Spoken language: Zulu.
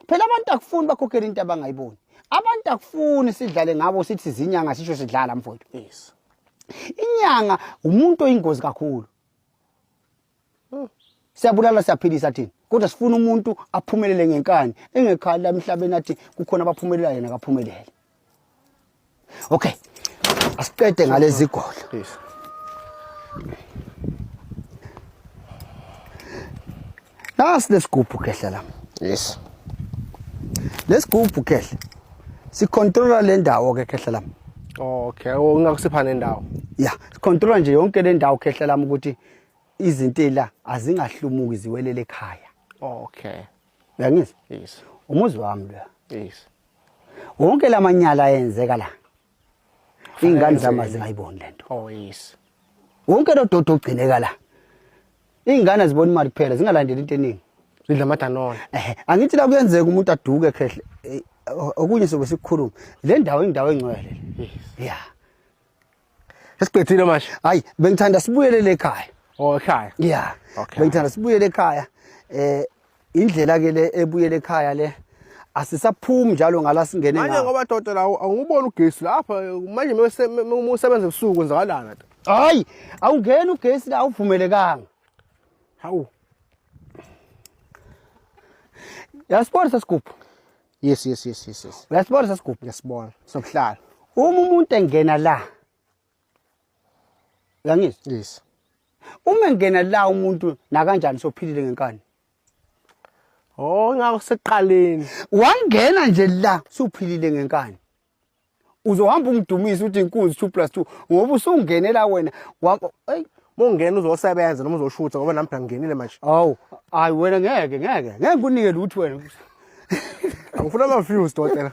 phela abantu akufuni bakhokhele into abangayiboni abantu akufuni sidlale ngabo sithi zinyanga sisho sidlala mfowethu yes inyanga umuntu oyingozi kakhulu hmm. siyabulala siyaphilisa thina kodwa sifuna umuntu aphumelele ngenkani engekhali emhlabeni athi kukhona abaphumelela yena akaphumelele Okay. Asiqede ngalezi golo. Please. Nasi lesigubhu kehla la. Yes. Lesigubhu kehla. Sicontrola le ndawo ke kehla la. Okay, oh, ungakusipha nendawo. Yeah, sicontrola nje yonke le ndawo kehla la ukuthi izintela azingahlumuki ziwelele ekhaya. Okay. Uyangizwa? Yes. Umuzi wami lo. Yes. wonke lamanyala ayenzeka la ingane zama zingayiboni lento oh yes wonke lo dodo ogcineka la ingane azibona imali kuphela zingalandeli into eningi zidla amadanona ehe angithi la kuyenzeka umuntu aduke khehle eh, okunye sobe sikukhuluma le ndawo indawo engcwele yes yeah Sesiqedile manje. Hayi, bengithanda sibuyele le ekhaya. Oh, ekhaya. Yeah. Okay. Bengithanda sibuyele ekhaya. Eh indlela ke le ebuyele ekhaya le asisaphumi njalo ngala singene ngayo. Manje ngoba dodela awuboni ugesi lapha manje musebenza ebusuku kwenzakalana. Hayi, awungeni ugesi la uvumelekanga. Hawu. Yasibona sesigubhu. yes yes yes yes yes uyasibona sesigubhu uyasibona sokuhlala uma umuntu engena la uyangizwa yes uma engena la umuntu nakanjani sophilile ngenkani oh ngakho seqaleni wangena nje la sophilile ngenkani uzohamba umdumisa uthi inkunzi 2 plus 2 ngoba usungenela wena eyi mongena uzosebenza noma uzoshutha ngoba nami ngingenile manje awu hayi wena ngeke ngeke ngeke kunike lutho wena angifuna ama views dotela